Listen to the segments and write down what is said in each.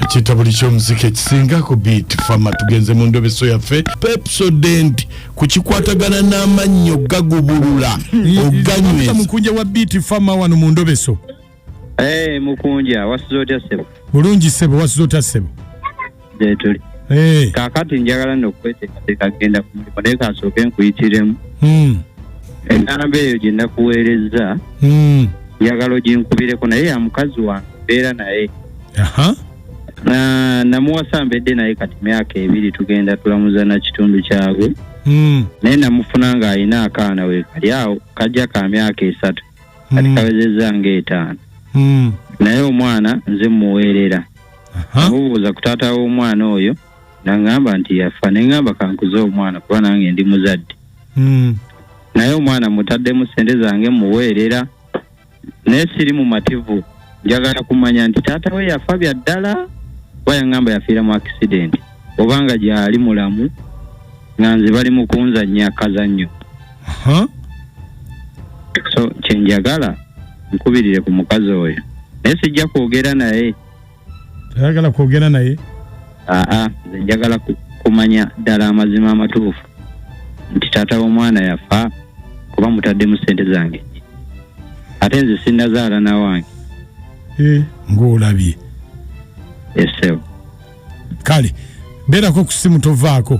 kitabo likyomuzika ekisinga ku beat fama tugenze mu ndobeso yaffe pepsodent kukikwatagana n'amannyo gagubulula oganywe mukunja wa beat fama wano mu ndobeso Hey, eh, mukunja wasuze otya sebo bulungi sebo wasuze otya sebo gyetuli Eh, kaakati njagala nno okweteekateeka kugenda ku mulimu naye kansooke nkuyitiremu mm, enamba eyo gye nakuweerezza mm. njagala oginkubireko naye ya mukazi wange mbeera naye Aha. Na- namuwasa mbedde naye kati myaka ebiri tugenda tulamuza na kitundu kyagwe Mm, naye namufuna ng'alina akaana we kali awo kajja ka myaka esatu kati mm, kawezezza ng'etaano mm. naye omwana nze muweerera Aha. mubuuza ku taata w'omwana oyo nangamba nti yafa nengamba kankuze omwana kuba nange ndi muzadde Mm. naye omwana mutaddemu sente zange muweerera naye siri mumativu njagala kumanya nti taata we yafa bya ddala oba yangamba yafiira mu akisidenti oba nga gyali mulamu nga nze bali mu kunzannya kazannyo Aha. so kyenjagala nkubirire ku mukazi oyo naye sijja kwogera naye ayagala kwogera naye aa nze njagala kumanya ddala amazima amatuufu nti taata w'omwana yafa kuba mutaddemu sente zange ate nze sinazaala nawange eh, ngaolabye esebo kale beerako ku simu tovaako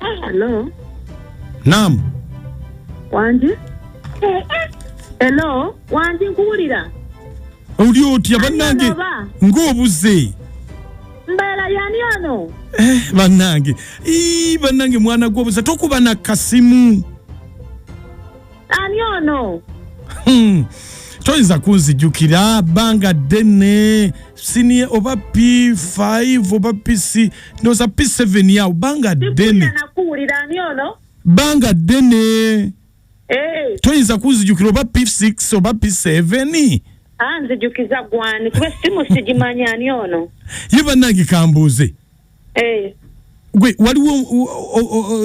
Hello. Naam. Wanji? Hello, wanji nkuwulira. Oli otya bannange ng'obuze. Mbeera yani ono? Eh, bannange. Ii bannange mwana gw'obuze tokuba na kasimu. ani ono Hmm. toyinza kunzijukira banga ddene sinie oba p5 oba pc ndoza p7 yawo banga ddene nakuwulira ani ono banga ddene eh. toyinza kunzijukira oba p6 oba p7 anzijukiza ah, gwani kuba simu sigimanya ani ono ye bannange kambuuze eh. gwe waliwo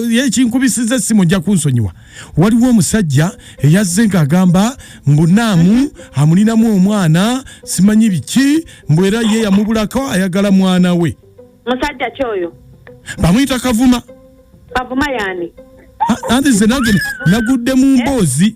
yekinkubisiza essimu ojja kunsonyiwa waliwo omusajja eyazze ng'agamba mbu naamu mhm. amulinamu omwana simanyi biki mbu era ye yamubulako ayagala mwana we musajja kyoyo bamuyita kavuma kavuma yani anti ze nange nagudde mu eh? mboozi eh?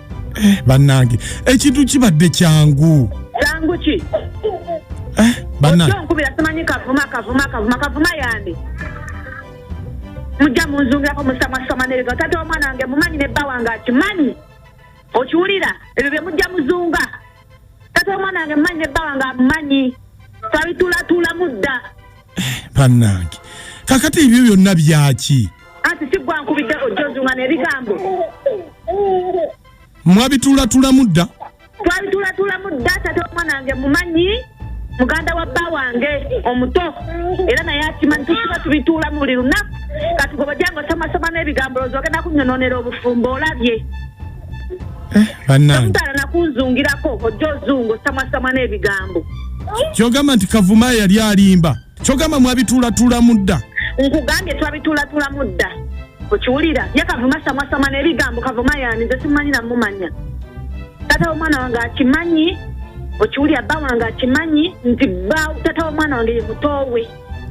eh, bannange ekintu kibadde kyangu kyangu ki eh, bannangenkubira simanyi kavuma kavuma kavuma kavuma yandi mujja munzungirako musamasama nerega tata wamwana wange mumanyi ne bba wange akimanyi okiwulira ebyo bye mujja muzunga tata wamwana wange mumanyi ne bba wange amumanyi twabitulatulamu dda eh, bannange kakati ebyo byonna byaki anti sigwankubidde ojjozunga nebigambo mwabitulatulamu dda twabitulatulamu dda tata omwana wange mumanyi muganda wa bba wange omuto era naye akimanyi tusiba tubituula mu buli lunaku katugobojanga osomasoma n'ebigambo lozi ogenda kunyononera obufumbo olabye eh, banangeomutala nakunzungirako ojja ozunga osamasama n'ebigambo kyogamba nti kavuma yali alimba kyogamba mwabituulatulamu dda nkugambye twabituulatulamu dda okiwulira ye kavuma samwasama nebigambo kavuma yani nze simumanyi namumanya tata womwana wange akimanyi okiwulira bba wange akimanyi nti bba tata womwana wange ye mutoowe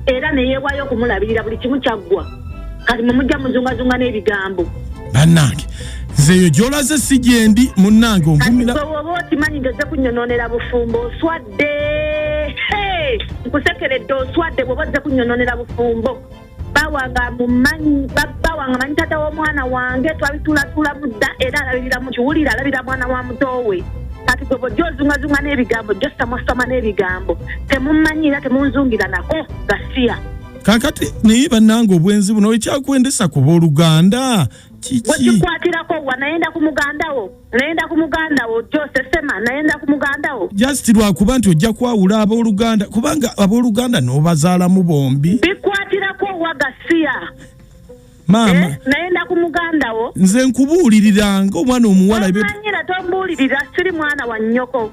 era neyeewaayo okumulabirira buli kimu kyaggwa kati mumujja muzungazunga n'ebigambo bannange nze eyo gyolaze si gyendi munnange onvumira oba okimanyi nti ozze kunyononera bufumbo oswadde nkusekeredde oswadde bwoba ozze kunyononera bufumbo bawanga mumanyi bawanga manyi tata w'omwana wange twabitulatula mudda era alabirira mu kiwulire alabira mwana wa mutowe kati gwe bojja ozungazunga n'ebigambo jjo samasama n'ebigambo temumanyi era temunzungira nako gasiya kakati naye bannanga obwenzi buno ekyakwendesa ku booluganda kiki wekikwatirako wa naye nda ku mugandawo nayenda ku muganda wo josesema nayenda ku muganda wo just lwakuba nti ojja kwawula abooluganda kubanga abooluganda n'obazaalamu bombi bikwatirako owa gasiya maama eh, nayenda ku muganda wo nze nkubuulirira nga omwana omuwala tombuulirira siri mwana wa nnyoko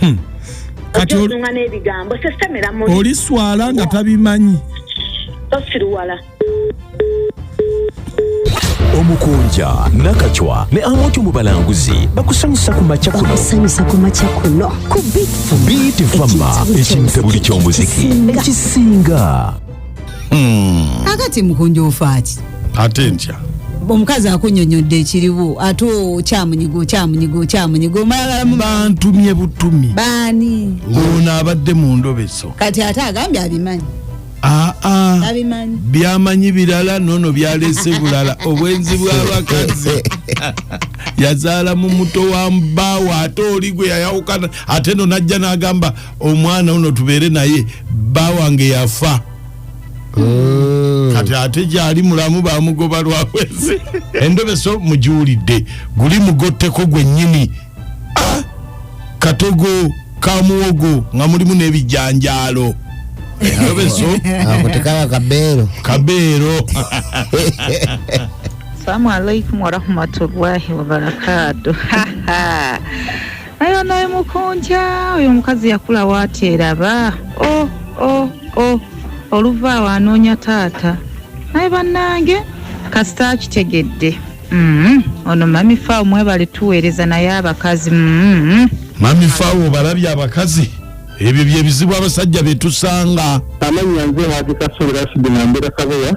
Hmm. kati ozunga n'ebigambo sesemera mu oli swala nga tabimanyi tosiruwala omukunja nakacwa ne amuntu mu balanguzi bakusanyusa ku makya kuno bakusanyusa ku makya kuno ku bit fama ekintabuli ky'omuziki ekisinga hmm. kakati mukunja ofaaki ate ntya omukazi akunyonyodde ekiriwo ate okyamunyiga okyamunyiga okyamunyiga omalagalamu bantumye butumi baani ono abadde mu ndobeso kati ate agambye abimanyi ah, ah. abimanyi byamanyi birala nono byalese bulala obwenzi bwabakazi yazaala mu muto wa mbaawo ate oli gwe yayawukana ate no najja nagamba omwana uno tubeere naye bba wange yafa mm. kati ate gyali mulamu bamugoba lwawezi endobeso mugiwulidde guli mugotteko gwennyini ah! katogo kamuwogo nga mulimu n'ebijanjaalo endobeso ako tekaba kabeero kabeero salamu alaikum warahmatullahi wabarakatu naye onaye mukunja oyo omukazi yakula wateraba o oh, o oh, o oh. oluva awo anoonya taata naye bannange kasita akitegedde mm-hmm. ono mami fawo mwebale tuweereza naye abakazi mm-hmm. mami fawo obalabye abakazi ebyo byebizibu abasajja betusanga amanya nze hajikasubira sidinambira kabeya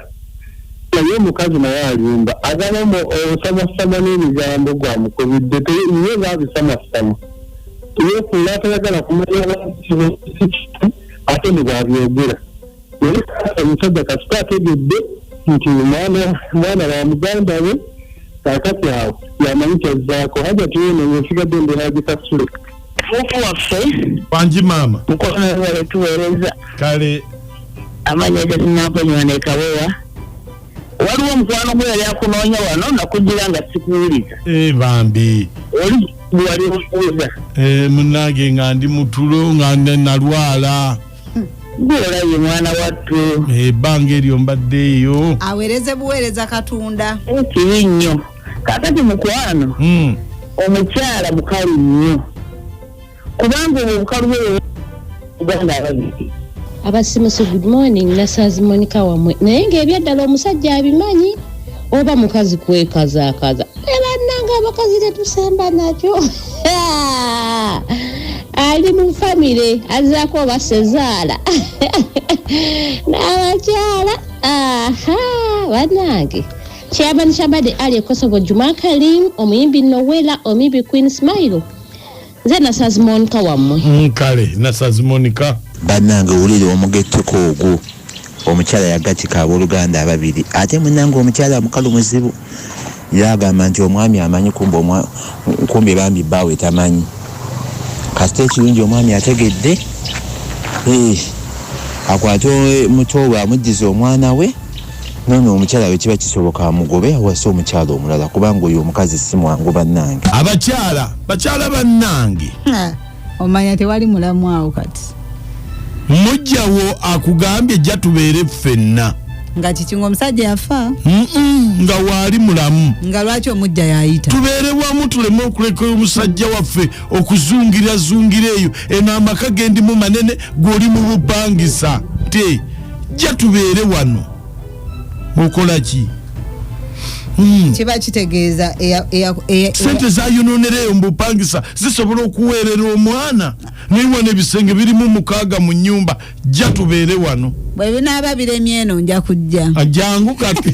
naye omukazi naye alimba agala osamasama n'ebigambo gwamukubidde ye babisamasama yefuula atayagala kumanya ate nebwabyogera naye omusajja kasita ategedde nti omwana mwana wa muganda we kakati awo yamanyi kyazzaako hajati weno yesigadde mbeera gikasule Hope waffe bangi maama mukwano webale tuweereza kale amanya gatinakonywa nekawewa waliwo omukwano gwe yali akunoonya wano nakugira nga sikuwuliza eh, bambi oli wali omuwuliza eh, munange nga ndi mutulo nga nalwala gweolabye mwana wattu ebbanga eh, eryo mbadde eyo aweereze buweereza katonda kibi nnyo kakati mukwano hmm. omukyala mukalu nnyo kubanga obwo obukalu bwe uganda ababiri abasimusi good morning nasazi monika wamwe naye ngaebyaddala omusajja abimanyi oba mukazi kwekazakaza ebananga abakazi tetusamba nakyo ali mu famire azaako oba sezaala n'abakyala aha banange Kyabani Kyabade Ali Ekosogo Juma Karim omuyimbi Nowela omuyimbi Queen Smile nze nasazimonika wammwe nkale mm, nasazimonika bannange wulire omugetteko ogwo omukyala yagatika abooluganda ababiri ate munange omukyala mukalu muzibu yagamba nti omwami amanyi kumbe bambi bbaawe tamanyi kasita ekirungi omwami ategedde eh, akwate muto we amuddiza omwana we Nono omukyala wekiba kisoboka amugobe awase omukyala omulala kubanga oyo omukazi simwangu banange. Abakyala bakyala banange. Omanya tewali mulamu awo kati. Mujjawo akugambye jja tubeere ffenna. Nga kiki nga omusajja yafa? Mm -mm, nga waali mulamu. Nga lwaki omujja yayita? Tubeere wamu tuleme okuleka omusajja waffe okuzungira zungira eyo eno amaka gendimu manene gwe oli mu bupangisa. Tee. jja tubeere wano okola ki hmm. kiba kitegeeza sente zayononereyo mubupangisa zisobola okuweerera omwana naiwa nebisenge birimu mukaaga mu nyumba jja tubeere wano bwebinaaba biremyeno nja kujja ajangu kati